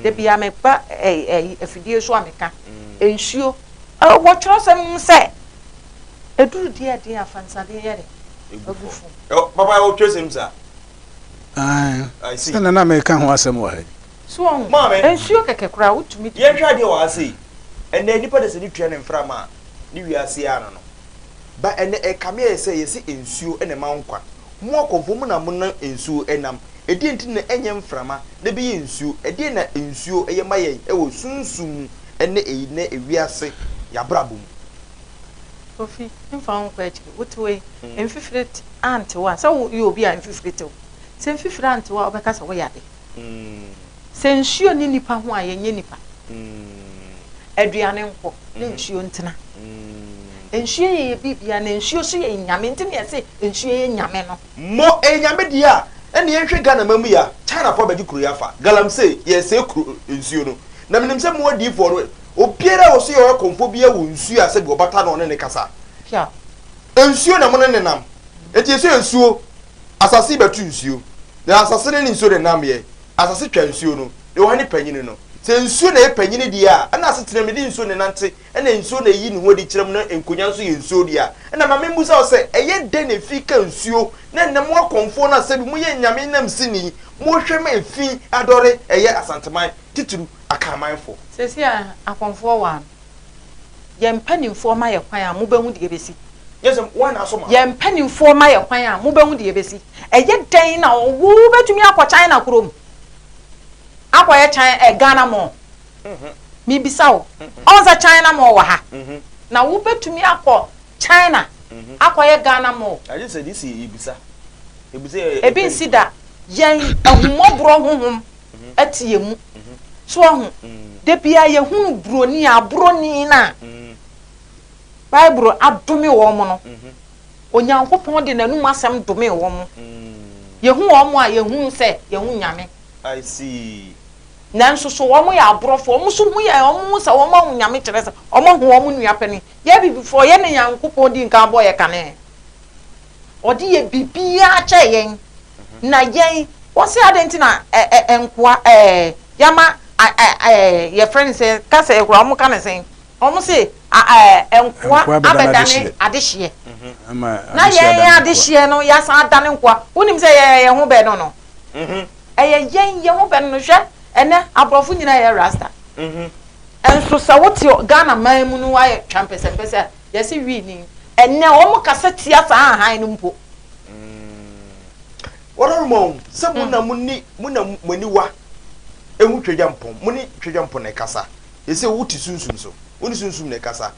S3: Da biara meba ɛyi afidie so a meka nsuo. Wɔ twerɛsɛm no mu sɛ, ɛduru deɛ a ɛden a, fa nsadeɛ yɛ dɛ gu fam. Papa ɛwɔ
S1: twerɛsɛm mu saa? Ae,
S2: sɛ na na meka ho asɛm wɔ ha yi. So woahu? Maame.
S3: Nsuo kɛkɛ koraa wotumi de gu. Yɛnhwɛ adeɛ wɔ ha sei.
S1: Ɛnnɛ nnipa dasani tua ne mframa a, ne wiase ara no no. Ba ɛnɛ ɛkame ayɛ sɛ yɛse nsuo na ɛma nkwa. Mo akɔmfo mo na monam nsuo nam. Ɛdeɛn nti na ɛnyɛ mframa na ɛbɛyɛ nsuo? Ɛdeɛn na nsuo yɛ ma yɛn wɔ sunsum mu ɛnɛ ɛyi nnɛ ewiase y'abrabɔ mu?
S3: Kofi, mfa wo nkɔ akyiri. Wote wei? Mfifire antew a, sɛ woyɛ obi a mfifire tew. Sɛ mfifire antew a wobɛka sɛ woyɛ ade. mm. Sɛ nsuo nni nipa ho a yɛnyɛ nipa mm. Aduane nkɔ na mm-hmm. nsuo ntena mm. Nsuo yɛ yɛ biribiara na nsuo so yɛ nyame nti na yɛse nsuo yɛ nyame no. Mo ɛyɛ eh, nyame
S1: deɛ a ɛne yɛnhwɛ Ghana ma mu ya China fo abɛgye kuro yi afa galamsey yɛsɛe kuro eh, nsuo no na menim sɛ mo adiifoɔ no obiara a wɔso yɛ ɔyɛ kɔmfoɔ biara wɔ nsuo a sɛ bi ɔbata na ɔne ne kasa
S3: nsuo na
S1: mo ne nenam enti yɛsɛ nsuo asase bɛto nsuo Na asase no ne nsuo no nnamyɛ. Asase twa nsuo no, na wɔn ne panyini no. Sɛ nsuo na ɛyɛ panyini deɛ a, ɛnna asetenam no de nsuo na ɛnante, ɛnna nsuo na ɛyi ne ho adi kyerɛ mo, na nkonyaa nso yɛ nsuo dea. Ɛnna ma memmisa wo sɛ, ɛyɛ dɛn na efi ka nsuo? Na ɛnnɛ mo akɔmfoɔ no asɛm yi, moyɛ anyame nnamsini, mohwɛ ma efi adɔre, ɛyɛ Asanteman, titiriw Akanmanfo. Seesei
S3: akɔmfoɔ wɔ ano.
S1: Yɛn mpanimfoɔ mma
S3: yɛn kwan a, mobɛhu deɛ ɛbɛsi. Yɛn mpanimfoɔ mma yɛn kwan a, mobɛhu deɛ ɛbɛsi. Ɛyɛ dɛn na wobɛtumi akɔ China kurom akɔyɛ China ɛ eh, Ghana mall? Mhm. Mebisa wo, mhm. ɔn sɛ China mall wɔ ha mhm. na wobɛtumi akɔ China akɔyɛ Ghana mall? Ebi nsi da yɛn ahummɔborɔ honhom ɛte yɛn mu. So wahu? Da biara yɛhunu buroni a, aborɔni no a Bible adome wɔn no, Onyankopɔn de n'anom asɛm domee wɔn. Yɛhu wɔn a, yɛhunu sɛ yɛn ho nyame.
S1: Nanso so
S3: wɔyɛ aborɔfo? Wɔn nso hu yɛn, wɔhu sɛ wɔahu Nyame kyerɛ sɛ wɔahu wɔn nua panin. Yɛn Abibifoɔ, yɛne Nyankopɔn dii nkan bɔɔ yɛn kane. Ɔde yɛ biribiara kyɛɛ yɛn. Na yɛn, wɔse adɛn nti na ɛɛ nkoa ɛɛ yɛama a a ɛɛ yɛfrɛ no sɛn kasa yi koraa wɔka no sɛn wɔse a ɛɛ nkoa abɛdane adehyeɛ na yɛn adehyeɛ no yɛasan adane nkoa wonim sɛ yɛn yɛn ho bɛ no no ɛyɛ yɛn yɛn ho bɛ no no hwɛ ɛnɛ aborɔfo nyinaa yɛ rasta nso sɛ wote Ghana man mu no ayɛ twampɛsɛmpɛsɛ a Yɛse wii ni. Ɛnnɛ wɔn kasa tia saa ahan
S1: no mpo. Wɔrema wɔn sɛ mo na mo ni mo na mo aniwa ehu Twedeampɔn, mo ne Twedeampɔn na ɛkasa. Yɛse wo te sunsum so, wo ne sunsum na ɛkasa.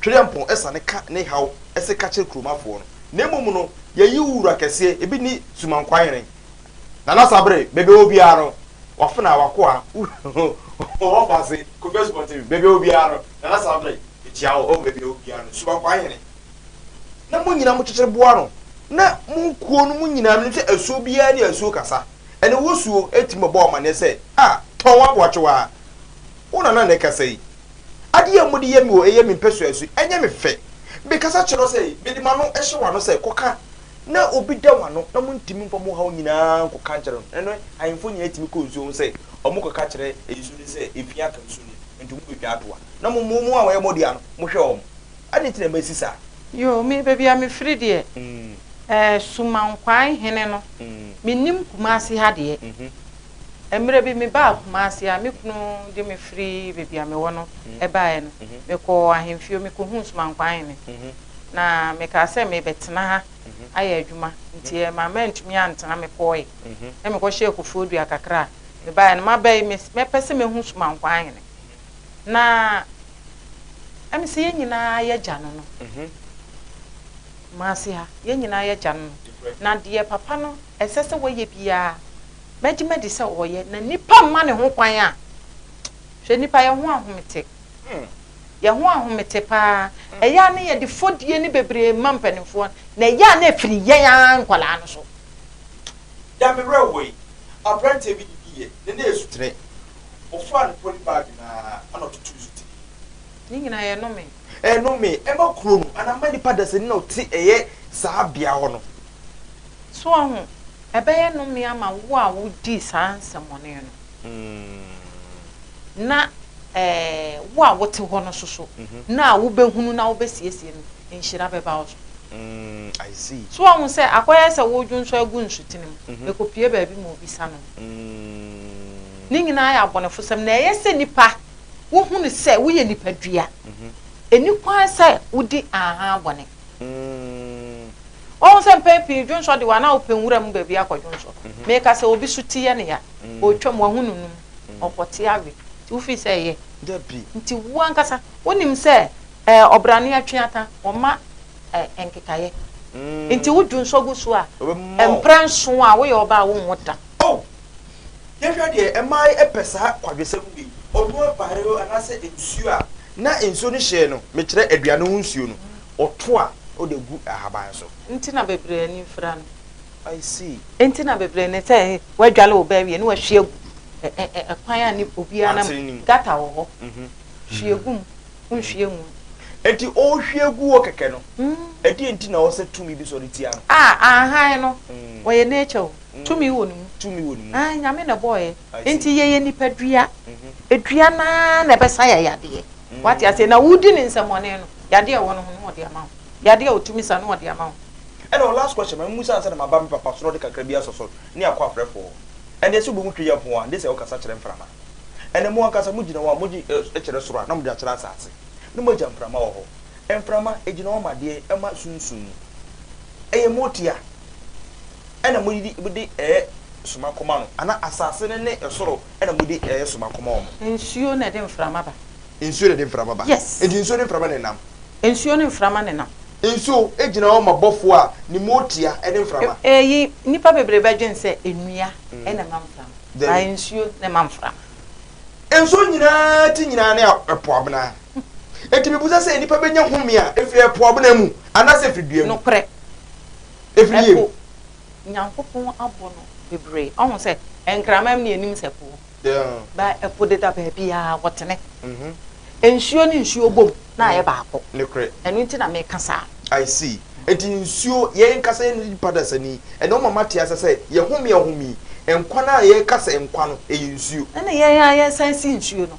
S1: Twedeampɔn ɛsane ka ne haw ɛse ka kyerɛ kuromafoɔ no. Na mmom no, yɛayi wo wura kɛseɛ, ebi ni Sumankwanyere. Nana Sabere, baabi a ɔwɔ biara no, w'afenaa, w'akoa, wo ho, ɔwɔ Baase, Kofi Asubɔnten, baabi a ɔwɔ biara no, Nana Samre, mekyia wo, o baabi a obiara no, Suba Kwaa Hene. Na mo nyinaa mo kyekyere boa ano, na mo kuo no mu nyinaa menim sɛ asuo biara ne asuo kasa, ɛnna wo suo tumi bɛbɔ amanneɛ sɛ, a, tɔn w'aboakyewaa. Wo Nana na ɛkasa yi. Adeɛ a mode yɛ me o, ɛyɛ me mpɛsoa su, ɛnyɛ me fɛ. Mekasa kyerɛ wo sɛ, mede m'ano hyɛ w'ano sɛ, kɔka. na obi da wɔn ano, na wɔntumi mfa wɔn haw nyina ara nkɔka nkyerɛ no. Ɛnnɛ, ahemfo nyina ara tumi kɔ nsuo ho sɛ wɔkɔka kyerɛ nsuo no sɛ, Ɛfie aka nsuo no mu, enti mobɛtwa ato ha, na mo mo mo a wɔyɛ modeɛ no, mohwɛ wɔn. Adɛn nti na masi saa? Yoo, me, baabi
S3: a mefiri deɛ, ɛɛ, Sumankwaae hene no, mennim Kumasi ha deɛ. Mmerɛ bi mebaa Kumasi a me kunu de me firi baabi a mewɔ no baeɛ no, mekɔɔ ahemfio, mekɔhuu Sumankwa ahene, na mekaa sɛ merebɛtena ha ayɛ adwuma, nti ɛmaa mantumi antena, mekɔɔe na mekɔhyɛɛ Kofoɔ Dua kakra a mebaeɛ no maba yi, mɛpɛ sɛ mɛhu Sumankwa ahene, na ɛme sɛ yɛn nyinaa yɛ gya no no, Kumasi ha, yɛn nyinaa yɛ gya no no, na deɛ papa no ɛsɛ sɛ wɔyɛ biara Mɛgye madi sɛ ɔyɛ, na nnipa mma ne ho kwan a. Hwɛ nnipa, yɛn ho ahomete. Yɛn ho ahomete paa. Ɛyɛ a ne yɛde fɔdie ne bebree ma mpanimfoɔ, na ɛyɛ a na ɛfiri yɛn ara nkwadaa no so.
S1: Deɛ me werɛ wɔ yi, aberanteɛ bi didiiɛ, na na ɛsutere. Ɔfaa ne poly bag no ara na ɔtotoo so tirii. Ne nyinaa
S3: yɛ nnome. Nnome, ɛma
S1: kuro no anaa ɛma nnipa dasani na ɔte ɛyɛ saa bea hɔ no. So
S3: wahu? Ɛbɛyɛ nnome ama wo a wodii saa nsɛmmɔne no, na wo a wote hɔ no nso so, mhm. na a wobɛhunu na wobɛsiesie no, nhyira bɛba wo so. Mm,
S1: so wahu sɛ akɔyɛ
S3: sɛ wodwo nso agu nsutene mu, mhm. ɛkɔpie baabi ma obi sa no. Mm. Ne nyinaa yɛ abɔnefosɛm, na ɛyɛ sɛ nipa wohunu sɛ woyɛ nipadua. Mhm. Ɛni kwan sɛ wodi aha bɔne. Mm. Woahu sɛ mpɛn pii dwonsɔ de wo anaa wopɛ nwura mu baabi akɔdwonsɔ? Meka sɛ obi so ti yɛ no ya, ɔretwam, wahu no no mu, ɔkɔte awe, nti wofi sɛ ɛyɛ. Nti wo
S1: ankasa
S3: wonim sɛ ɛɛ ɔbrane atweataa, wɔmma ɛɛ nkekaeɛ. Nti wo dwonsɔ gu so a, mprɛ nson a woyɛ ɔbaa a wonwo da. Oh!
S1: Yɛhwɛ deɛ mmaa pɛ saa kwadwosɛm wei, ɔno abaeɛ o anaasɛ nsuo a na nsuo no hyɛɛ no, mekyerɛ aduane ho nsuo no, Ɔto a ɔde gu ahaban so. Nti na bebree ani
S3: mfira no. I see.
S1: Nti na bebree ne
S3: sɛ woadware wo ba awie na wahwie agu kwan a ne obiara nam. Kwankyere no mu. Gutter wɔ hɔ. Hwie gu mu, wonhwie ngu mu. Nti ɔrehwie
S1: gu hɔ kɛkɛ no, ɛdeɛn nti na ɛwɔ sɛ tumi bi sɔre tia no? Ah, ahan no,
S3: ɔyɛ nature o. Tumi wɔ ne mu. Tumi wɔ ne mu. Aane, Nyame na ɛbɔeɛ. Enti yɛyɛ nipadua. Dua no ara na ɛbɛsa yɛ yadeɛ. Woate aseɛ? Na wodi ne nsɛmmɔne no, yadeɛ a ɛwɔ no ho no, ɔde ama wo. Yadeɛ a ɔtumi sa no, ɔde ama wo. Ɛna ɔ last question,
S1: ma me musa ansa na maba me papa sorɔ de kakra bi asɔ so ne akɔ afrɛfoɔ. Ɛndeɛ sɛ wobɛhu Twɛ Yɛmfo a, gye sɛ wokasa kyerɛ mframa. Ɛnɛ mo ankasa mo gyina hɔ a, mo gye ɛ kyerɛ soro a, na mo de akyerɛ asaase. Ne mo agya mframa wɔ hɔ. Mframa, ɛgyina hɔ ma deɛn? Ɛma sunsum. Ɛyɛ motia. na mode mode resoma kɔma no, anaa asase no ne soro na mode resoma kɔma wɔn? Nsuo na ɛde mframa
S3: ba. Nsuo na ɛde mframa
S1: ba. Yes. Enti nsuo ne mframa na
S3: ɛnam.
S1: Nsuo ne mframa
S3: na ɛnam. Nsuo gyina hɔ
S1: ma bɔfoɔ a ne mu ɔɔtia ne mframa. Eyi, nnipa
S3: bebree bɛdwene sɛ nnua na ɛma mframa. Dabi. Nsuo na ɛma mframa. Nsuo
S1: nyinaa ti nyinaa ne ɛpo abena. Enti mibisa sɛ nnipa benya home a efi ɛpo abena mu anaasɛ efi dua mu? Nokorɛ,
S3: Efiri
S1: yɛn mu. ɛpo,
S3: Nyankopɔn abɔ no bebree. Ɔhu sɛ nkramam ne anim sɛ po. Ba, ɛpo deda baabiara, wɔtene. Nsuo ne nsuo bom na ayɛ baako. Nokorɛ. Ɛno nti na
S1: meka
S3: saa. I see.
S1: Enti nsuo, yɛn nkasa yɛn nipa dasani, ɛna ɔma mate ase sɛ yɛhome a home yi, nkwa no a yɛka sɛ nkwa no, ɛyɛ nsuo. Ɛna yɛn a yɛsan
S3: si nsuo no,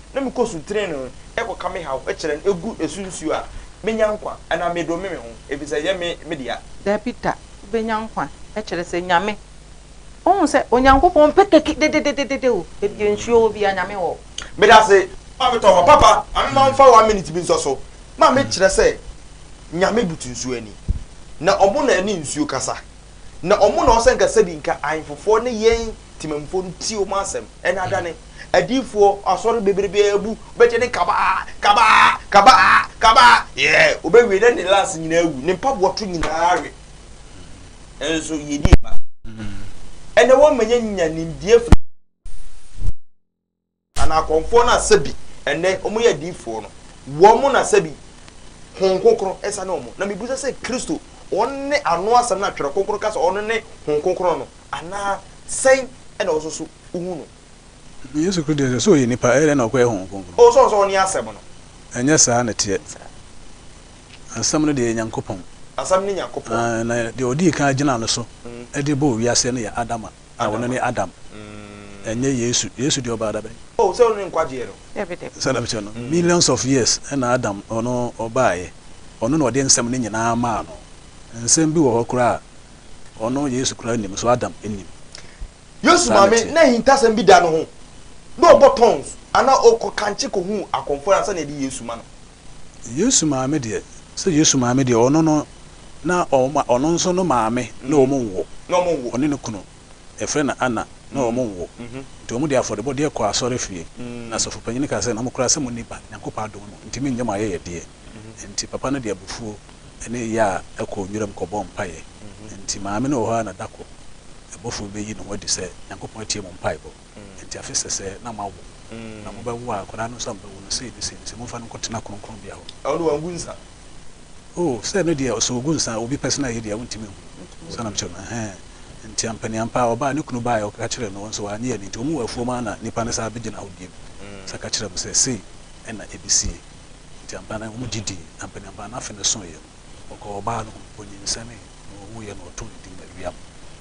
S1: na mekɔ su trenee kɔka me haw kyerɛ no gu so nsuo a, mɛnya nkwa anaa medome me ho, ɛfiri sɛ ɛnyɛ me me dea? Dabi da,
S3: wobɛnya nkwa, kyerɛ sɛ, Nyame. Wohu sɛ Onyankopɔn mpɛ kɛkɛ dedededede o, baabi a nsuo wɔ biara, Nyame wɔ hɔ. Medase,
S1: ma me tɔ hɔ. Papa, ma me ma wo mfa one minute bi nsɔ so ma me kyerɛ sɛ Nyame butu nsuo ani, na ɔmo na ɛne nsuo kasa, na ɔmo na ɔsɛ nka sɛbi nka ahenfofoɔ ne yɛn temammufoɔ no tie ɔmo asɛm, ɛna adane. Adiyifoɔ asɔre bebrebe abu, wobɛgye ne kabaa, kabaa, kabaa, kabaa, yɛɛ, wobɛwie na ne lance nyinaa awu, ne mpaboa to nyinaa awe. Nso yɛdi yɛ ba. Ɛnɛ wɔn manya nya nimdeɛ firi anaa akɔmfoɔ no asɛ bi, ɛnɛ wɔn yɛ adiyifoɔ no, wɔn mo na sɛ bi, hon kokoro ɛsa ne wɔn. Na mebusa sɛ Kristo, wɔn ne ano asɛm no atwerɛ kokoro ka sɛ wɔn ne hon kokoro no, anaa sɛn ɛna wɔsoso wohu no? Yesu Kristo
S2: deɛ, sɛ ɔyɛ nipa, ɛyɛ dɛn na ɔkɔyɛ Honhom Kronkron? O, sɛ ɔsɛ ɔne Asɛm
S1: no. Ɛnyɛ saa na
S2: ɛteɛ. Asɛm no deɛ yɛ Nyankopɔn. Asɛm ne Nyankopɔn.
S1: Aane, na deɛ ɔdii kan
S2: gyinaa no so de bɔɔ wiaseɛ no yɛ Adam a, na ɔno ne Adam. Ɛnyɛ Yesu. Yesu deɛ ɔbaa da bɛn? O, sɛ ɔno ne nkwagyeɛ
S1: no. Dabi, dabi. Sɛdeɛ mekyerɛ no,
S3: millions
S2: of years na Adam, ɔno, ɔbaaeɛ. Ɔno na ɔde nsɛm no nyinaa maa no. Nsɛm bi wɔ hɔ koraa a, ɔno, Yesu, koraa nnim, nso Adam nnim. Yesu
S1: maame na ahintasɛm bi da no ho na ɔbɔ tons anaa ɔkɔ kankye kɔhu akɔmfoɔ ansa na ɛde Yesu ma no. Yesu
S2: maame deɛ, sɛ Yesu maame deɛ ɔno no na ɔma, ɔno nso
S1: no
S2: maame na wɔn nwo,
S1: na
S2: wɔn nwo. ɔne ne kunu,
S1: yɛfrɛ
S2: no Anna, na wɔn nwo, nti wɔn de afɔrebɔdeɛ kɔɔ asɔrefie, na asɔfopanin no kaa sɛ, Nokorɛ sɛ monni ba, Nyankopɔn adom mu, nti mennyɛ mo ayɛyɛdeɛ. Enti papa no de abufuo ne yea kɔɔ nwiram kɔbɔɔ mpaeɛ. Enti maame no wɔ hɔ ara na da koro ɛbɔfo bi bɛyi ne ho adi sɛ, Nyankopɔn atie mo mpaebɔ. Enti afe sɛsɛɛ na moawo, na mobɛwo a akwadaa no nso ammɛwu no sei ne sei ne sei, momfa no nkɔtena kronkronbea hɔ. Ɛno deɛ wangu nsa.
S1: O,
S2: sɛ ɛno deɛ, sɛ ɔgu nsa a, obi pɛsɛn ayɛ deɛ, wontumi nhu. Saa na mekyerɛ no. Ɛhɛɛ. Enti ampaneampa ara ɔbaa, ne kunu baeɛ, ɔka kyerɛɛ no, ɔnso wannye anni, enti wɔn mu afuom ara na nnipa no san bɛgyina hɔ bio sɛ ka kyerɛɛ mo sɛ sei na ɛbɛsie. Enti ampa na wɔn gye dii, na mpaninpa no afe no soeɛ no, wɔkɔɔ ɔbaa no hɔ, ɔnyinsɛnee, na ɔwuiɛ no, wɔtoo ne din Mariam.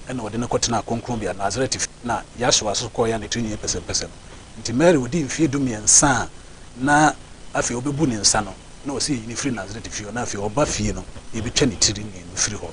S2: Ɛnna wɔde no kɔtenaa kronkronbea, Nasaret efie. Na Yahsua nso kɔeɛ a ne tiri nyɛɛ pɛsɛmpɛsɛm. Enti Mary ɔdii mfeɛ dummiɛnsa a na afei ɔbɛbu ne nsa no, na wɔse yɛyi no firi Nasaret efie hɔ, na afei ɔba fie no, yɛbɛtwa ne tiri nyɛɛ no firi hɔ,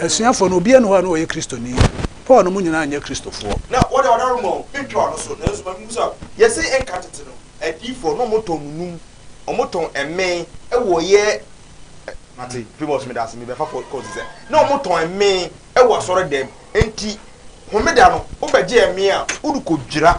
S2: Asuafoɔ no, obiara nni hɔ a na ɔyɛ Kristoni. Paul no mu nyinaa nyɛ Kristofoɔ. Na wɔde wɔn dawuroma o,
S1: mentwa wɔn so, nanso ma memmisa wo, Yɛse nka tete no, adiyifoɔ na wɔtɔn nunum, wɔtɔn mmee wɔ yɛn, mate, Primus meda ase, mebɛfa kɔ kɔsi sɛ, na wɔtɔn mmee wɔ asɔredɛm, enti Homeda no, wobɛgye mmee a, wode kɔdwira.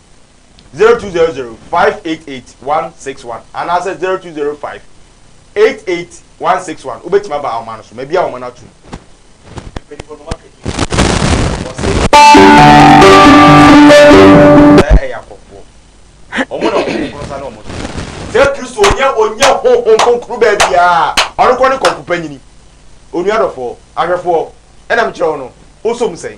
S1: zero two zero zero five eight eight one six one anaasɛ zero two zero five eight eight one six one wobɛtumi aba ahoma no so ma bi a wɔn no atum. ɛyɛ akɔfoɔ wɔn na wɔn kɔnkɔn sa na wɔn so sɛ kristo onye onye honhom kronkron baabiaa ɔno kɔ ne kɔmpo panyini onua dɔfoɔ ahwɛfoɔ ɛnam kyerɛ wo no wosom sɛn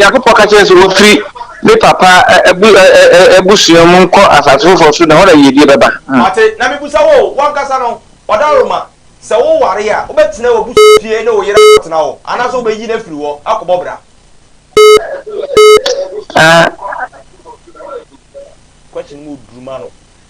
S4: Nyankopɔn ka kyerɛ sɛ wɔfiri ne papa abusua mu nkɔ asase foforɔ so na ɛhɔ na yiedie bɛba. Wate, na mebusa
S1: wo, wo ankasa no, ɔdawuroma, sɛ woware a, wobɛtena w'abusua fie ne wo yere akɔtena hɔ, anaasɛ wobɛyi no afiri hɔ akɔbɔ bra? Question mu oduru ma no.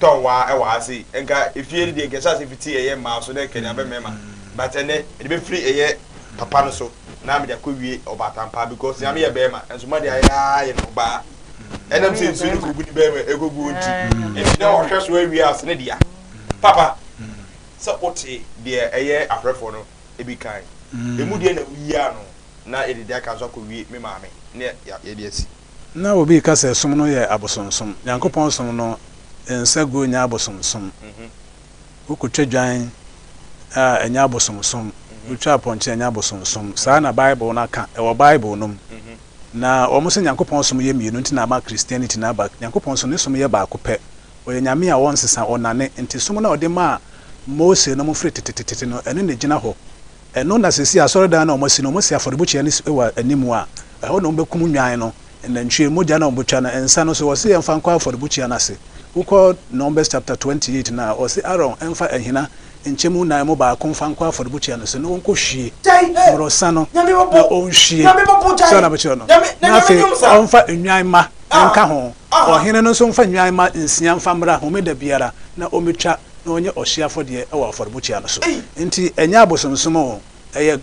S1: tɔn wa wɔ ha sei nka efie no deɛ nka ɛhyɛ ase fiti ɛyɛ mmaa so na ɛkɛne abɛ mmarima but ɛnɛ ɛde bɛfiri ɛyɛ papa no so na mede akɔ wie ɔbaatampaa because nyame yɛ bɛrima nso ma de ayɛ aa yɛ no ɔbaa ɛnam sɛ nsuo no kɔgu ne bɛrima ɛkɔgu wɔn ti ɛti na ɔhwɛ so awie ase ne dea papa sɛ wote deɛ ɛyɛ ahwɛfoɔ no ebi kan ɛmu deɛ na woyi ano na yɛde deɛ aka nso akɔ wie me maame ne yɛde asi Ná obi reka sɛ
S2: som no yɛ abosonsom. Nyankopɔn som no nsa gu nyɛ abosonsom. Wokotwa dwan a, ɛnyɛ abosonsom. Wotwa apɔnkye a, ɛnyɛ abosonsom. Saa na Bible no aka. Ɛwɔ Bible no mu. Na wɔse Nyankopɔn som yɛ mmienu nti na ama Christianity no aba. Nyankopɔn nso, ne som yɛ baako pɛ. Ɔyɛ Nyame a ɔnsesa, ɔnnane. Enti som no a ɔde maa Mose nom firi tetetetete no, ɛno na egyina hɔ. Ɛno na seesei asɔredan no a wɔasi no, wɔasi afɔrebukyia no si wɔ anim a ɛhɔ na wɔbɛkum nnwan no, nnantwie, mogya no a wɔbɛtwa no, nsa no nso wɔse yɛmfa nkɔ afɔrebukyia no ase. Wokɔ Numbers chapter twenty eight no a, wɔse Aaron mfa ahina nkyɛmu nnan mu baako mfa nkɔ afɔrebukyia no ase na ɔnkɔhwie mmorɔsa no na ɔnhwie sɛ na bɛkyerɛ no, na afei ɔmfa nnwan mma nka ho. Ɔhene no nso mfa nnwan mma nsia mfa mmra homeda biara na ɔmmɛtwa. na ɔnyɛ ɔhyeɛ afɔdeɛ wɔ afɔrebukyia no so. Enti ɛnyɛ abosomsom o. Ɛyɛ,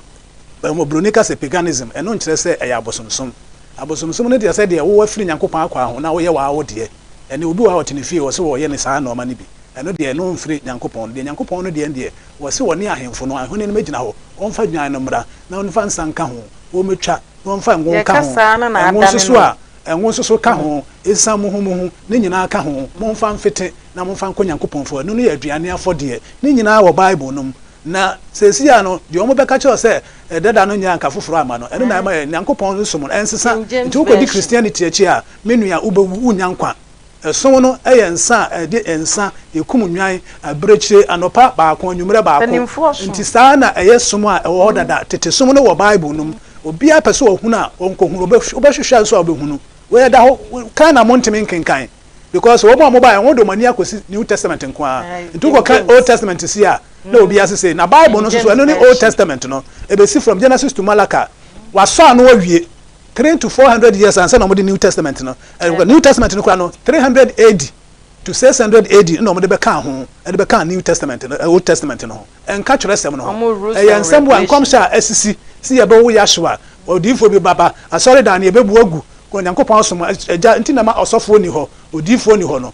S2: mmɔboroni ka sɛ paganism, ɛno nkyerɛ sɛ ɛyɛ abosomsom. Abosomsom no deɛ sɛdeɛ wo afiri Nyankopɔn akwaa ho na woyɛ w'aa wo deɛ, ɛne obi wɔ hɔ a ɔte ne fie wɔse wɔyɛ no saa nnoɔma no bi, ɛno deɛ ɛno mfiri Nyankopɔn. Deɛ Nyankopɔn no deɛ no deɛ wɔse wɔne ahemfo no, ahene no mmɛgyina hɔ, wɔmfa dwan no mmra, na wɔmfa nsa nka ho, wɔmmɛtwa, na wɔmfa ngo nka ho, ngo nso so a, Ngo nso so ka ho, esiam muhumuhu, ne nyinaa ka ho, momfa mfete, na momfa nkɔ Nyankopɔn fua, ɛno no yɛ aduane afɔdeɛ. Ne nyinaa wɔ Bible no mu. Na seesei ara no, deɛ wɔbɛka kyerɛ wo sɛ dada no nyɛ anka foforɔ amma no, ɛno na ɛma yɛ, Nyankopɔn som no ɛnsesa. Nti wokɔdi Christianity akyi a, me nua, wobɛwu, wonnya nkwa. Ɛsono no yɛ nsa a ɛde nsa kum nnwan abirekyire anɔpa baako, anwummerɛ baako. Enti saa na ɛyɛ som a ɛwɔ hɔ dada. Tete som no wɔ Bible no mu. Obiara pɛ sɛ ɔhunu a, ɔnkɔhunu. Wobɛhwehwɛ nso a wobɛhunu. Wei ɛda hɔ, kan na montumi nkenkan because wɔn a wɔbaeɛ no, wɔn de wɔn ani akɔsi New Testament nko ara. Nti wokɔka Old Testament sie a, na obiara sesei. Na Bible no nso so, ɛno ne Old Testament no. Ɛbɛsi from Genesis to Malachi. Wɔasɔ ano awie. Three to four hundred years ansa na wɔde New Testament no ɛrekɔ. New Testament no koraa no, three hundred AD to six hundred AD na wɔde bɛkaa ho, ɛde bɛkaa New Testament no, Old Testament no ho. Ɛnka Twerɛsɛm no ho. Ɛyɛ nsɛm boa nkɔmhyɛ a asisi sɛ yɛbɛwo Yahshua, odiyifoɔ bi bɛba, asɔredan no yɛbɛbu agu, Onyankopɔn asom, agya nti na ɛma ɔsɔfoɔ nni hɔ, odiyifoɔ nni hɔ no.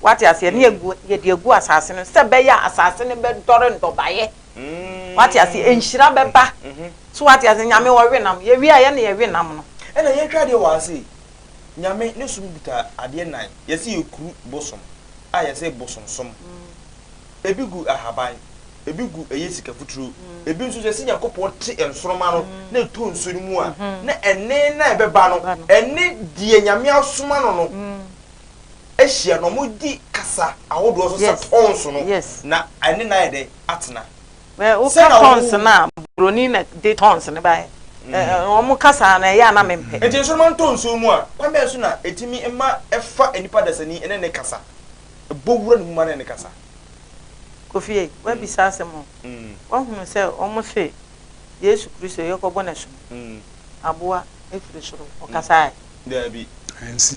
S3: Wate aseɛ? Ne yɛgu, yɛde agu asase no sɛ bɛyɛ a asase no bɛdɔre nnɔbaeɛ. Wate aseɛ? Nhyira bɛba. So wate aseɛ? Nyame ɔwe nam. Yɛwie a, yɛ na yɛwe nam no. Ɛna yɛtwa adeɛ wɔ ha
S1: sei. Nyame ne som kuta adeɛ nnan. Yɛse yɛkuru bosom a yɛse bosomsom. Ebi gu ahaban, ebi gu ɛyɛ sika futuro, ebi nso yɛse Nyankopɔn te nsoroma no na ɛtɔ nsuo no mu a, na ɛnne no a ɛbɛba no, ɛne deɛ Nyame asoma no no ahyia na wɔdi kasa ahodoɔ so sɛ pons no, na ɛne no ayɛ dɛ atena. Woka
S3: pons no a, buroni na de tons no baeɛ. Wɔn kasa no ɛyɛ a na mempɛ. Nti nsoromma ntɔ nsuo
S1: mu a, kwan bɛn so na ɛtumi ma ɛfa nnipa dasani ne ne kasa, ɛbɔ wura ne mu ma ne ne kasa? Kofie,
S3: woabisa asɛm o. Woahunu sɛ wɔse Yesu Kristo yɛkɔbɔ no asu no, aboa firi soro, ɔkasaeɛ? Daabi.
S1: Ansi.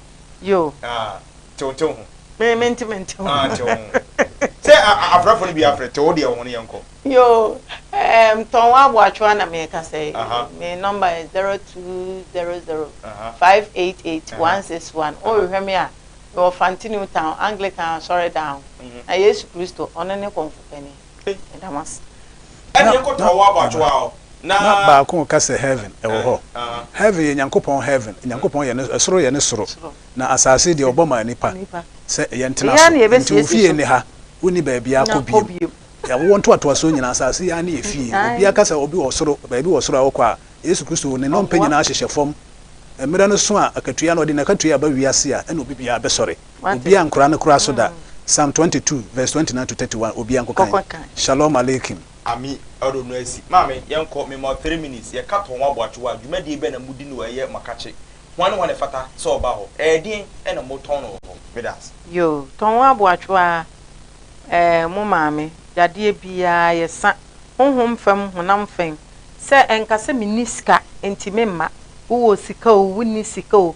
S1: Yoo.
S3: Ah, tew
S1: tew ho. Me me nte me nte
S3: ho. Ah, nte ho.
S1: Sɛ a a afrɛfo no bi afrɛ tew deɛ ho no yɛn kɔ. Yoo,
S3: ɛɛm tɔn wɔ aboatwoa na me reka sɛ me number yɛ zero two zero zero five eight eight one six one. Wo rehwɛ me a, me wɔ Fante New Town Anglican Asɔredan ho. Na Yesu Kristo, ɔno ne kɔmfo panin.
S1: Na baako reka sɛ,
S2: Heaven, ɛwɔ hɔ. Heaven yɛ Nyankopɔn heaven, Nyankopɔn yɛ ne, soro yɛ ne soro, na asase deɛ, Ɔbɔ maa nnipa sɛ yɛntena so. Enti wo fie nne ha, wonni baabiara kɔ bio. Awoɔ ntoatoasoɔ nyinaa, asase yi ara ne yɛ fie. Obiara ka sɛ obi wɔ soro, baabi wɔ soro a ɔkɔ a, Yesu Kristo, Ne nnompe nyinaa hyehyɛ fam. Mmerɛ no so a akatua no, ɔde n'akatua ba wiase a, ɛna obi biara bɛsɔre. Obi ankora no koraa so da. Psalm twenty two verse twenty nine to thirty one Obi ankokan. Shalom Aleichem. Ami ɔdo
S1: no asi. Maame, yɛnkɔ, me ma wo three minutes, yɛka tɔn wɔ aboakye hɔ a, dwumadie bɛn na modi no wɔ ɛyɛ makakye? Hwan ne hwan na ɛfata sɛ wɔba hɔ? Ɛɛdeɛn na motɔn no wɔ hɔ? Medaase. Yoo, tɔn wɔ
S3: aboakye hɔ aa, ɛɛ mo maame, yadeɛ biaa yɛsa, honhom fam, honam fɛn, sɛ ɛnka sɛ menni sika nti memma, wowɔ sika oo, wonni sika oo,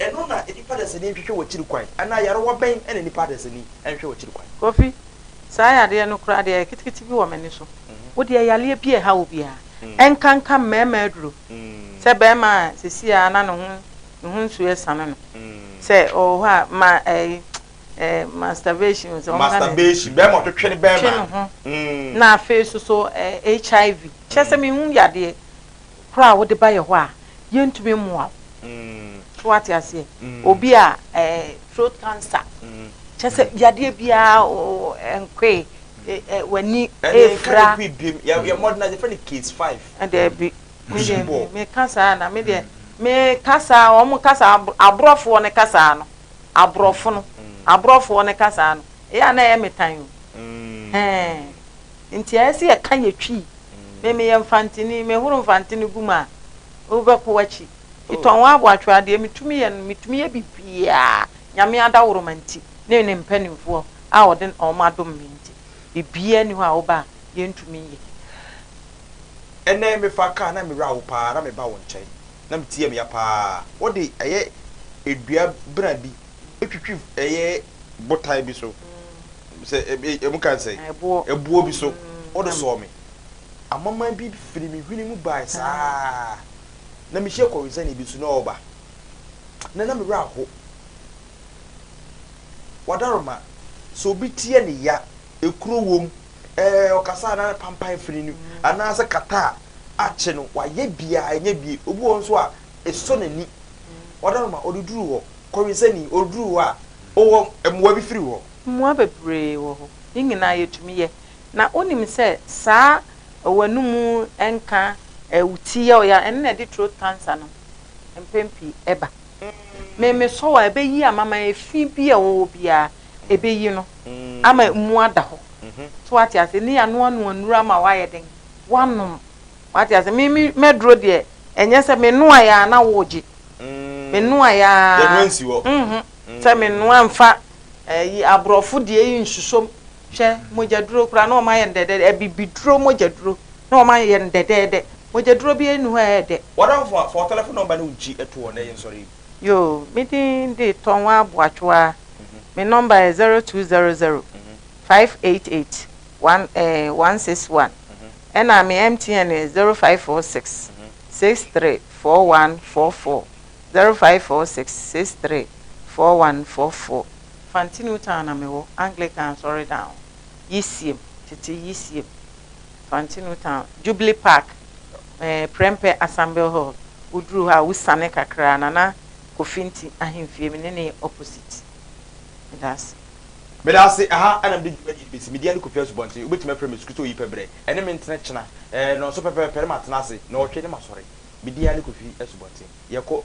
S3: Ɛno na
S1: nnipa adanseni nhwehwɛ wɔ akyiri kwan anaa nyarewa bɛn na nnipa adanseni nhwehwɛ wɔ akyiri kwan? Kofi,
S3: Saa yadeɛ no koraa deɛ ketekete bi wɔ m'ani so. Wo deɛ yareɛ bi a ɛha wo biara, ɛnkanka mmarima aduro. Sɛ barima a seesei ara na ne ho ne ho nsuo resane no, sɛ ɔwɔ hɔ a ma ɛyi ɛɛ masturbation o sɛ wɔn nka ne Masturbation, barima a ɔtwetwe
S1: ne twe bɛrima. ne ho na afei
S3: nso so ɛɛ HIV. Kyerɛ sɛ mehu yadeɛ. koro a wode baeɛ hɔ a, yɛntumi mmoa wo. So wate aseɛ? Obi a ɛɛ throat cancer, kyɛ sɛ yadeɛ biara nkoe, w'ani efira. Ɛne nka biem, yɛ mmɔden
S1: na yɛfrɛ no case five. Ɛdɛbi, me
S3: deɛ me kasa na me deɛ me kasa wɔn kasa aborɔfoɔ ne kasa no, aborɔfo no, aborɔfoɔ ne kasa no, ɛyɛ a na ɛyɛ me tan o. Hɛn. Nti ɛyɛ sɛ yɛka yɛ twii me meyɛ mfanteni mehoro mfantene gu mu a wobɛkɔ wakyi metɔn wɔ aboatwerɛ adeɛ metumi yɛ no metumi yɛ bibiaa nyame adaworoma nti ne ne mpaninfoɔ a ɔde ɔmo adom me nti bibiaa ni hɔ a woba a yɛntumi nyɛ.
S1: Ɛnɛ me fa car na me wura wo paa na me ba wo nkyɛn na me tie me ya paa wo de ɛyɛ dua bena bi twitwi ɛyɛ botan bi so. Sɛ emu ka sɛ. Ɛboɔ. Ɛboɔ bi so. Wode sɔɔ me. Amaman bi firi me hwene mu bae saa ara. Na mehyia kɔwensani bi nso, na ɔreba, na na me werɛ aho. W'adaworoma, sɛ obi teɛ ne ya, ekuro wom, ɛɛ, ɔkasa a na pampan afiri no, anaasɛ kata a akye no, wayɛ biara, ɛnyɛ bie. Obi wɔ hɔ nso a, esɔ n'ani. W'adaworoma, ɔde duru hɔ. Kɔwensani, ɔduru hɔ a, ɔwɔ mmoa bi firi hɔ. Mmoa bebree
S3: wɔ hɔ. Ne nyinaa yɛtumi yɛ. Na wonim sɛ saa ɔw'anum nka ɛɛ wo ti yɛ wo ya, ɛno na ɛde throat cancer no mpɛn pii ɛba. Me me sɔ wo a ɛbɛyi ama ma efi bi a ɛwɔ hɔ biara ɛbɛyi no ama mu ada hɔ. So wate aseɛ? Ne yɛanoa noa nnuro ama w'ayɛ den w'anom. Wate aseɛ? Me me m'aduro deɛ ɛnyɛ sɛ me noaeɛ a na wogye. Me noaeɛ ara. Yɛnoa nsi hɔ.
S1: Sɛ me noa
S3: nfa. ɛyi abrɔfo deɛ yi nsusom hwɛ mogyaduro koraa na wɔn ayɛ no dɛdɛɛdɛ abibiduro mogyaduro na wɔn ayɛ no dɛdɛɛdɛ mogyaduro bi enu hɔ a ɛyɛ dɛ. Wadamfo a fɔ telephone
S1: number no nkyi ɛto hɔ na yɛ nsɔre yi. Yoo me
S3: din de Tonwaa Boachoaa me number yɛ zero two zero zero five eight eight one eh one six one ɛna me MTN yɛ zero five four six six three four one four four Zero five four six six three four one four four. Fanti Newtown na mewɔ, Anglican Asɔredan yisiem, tete yisiem, Fanti Newtown, Jubilee Park, eh, Prempeh Assembly Hall, woduru hɔ a wosiane kakra a Nana Kofi Nti ahemfie, me ne no yɛ opposite. Meda ase. Meda ase,
S1: ɛha na mede dwumadie no bɛsi. Me din ane Kofi Asubɔnten, wobɛtumi afrɛ me Asuku sɛ Oyipa Berɛ, ɛne me ntena kyena, eh, nnɔnso pɛpɛɛpɛ ne matena ase, nnɔɔtwe ne masɔre. Me din ane Kofi Asubɔnten. Yɛkɔ.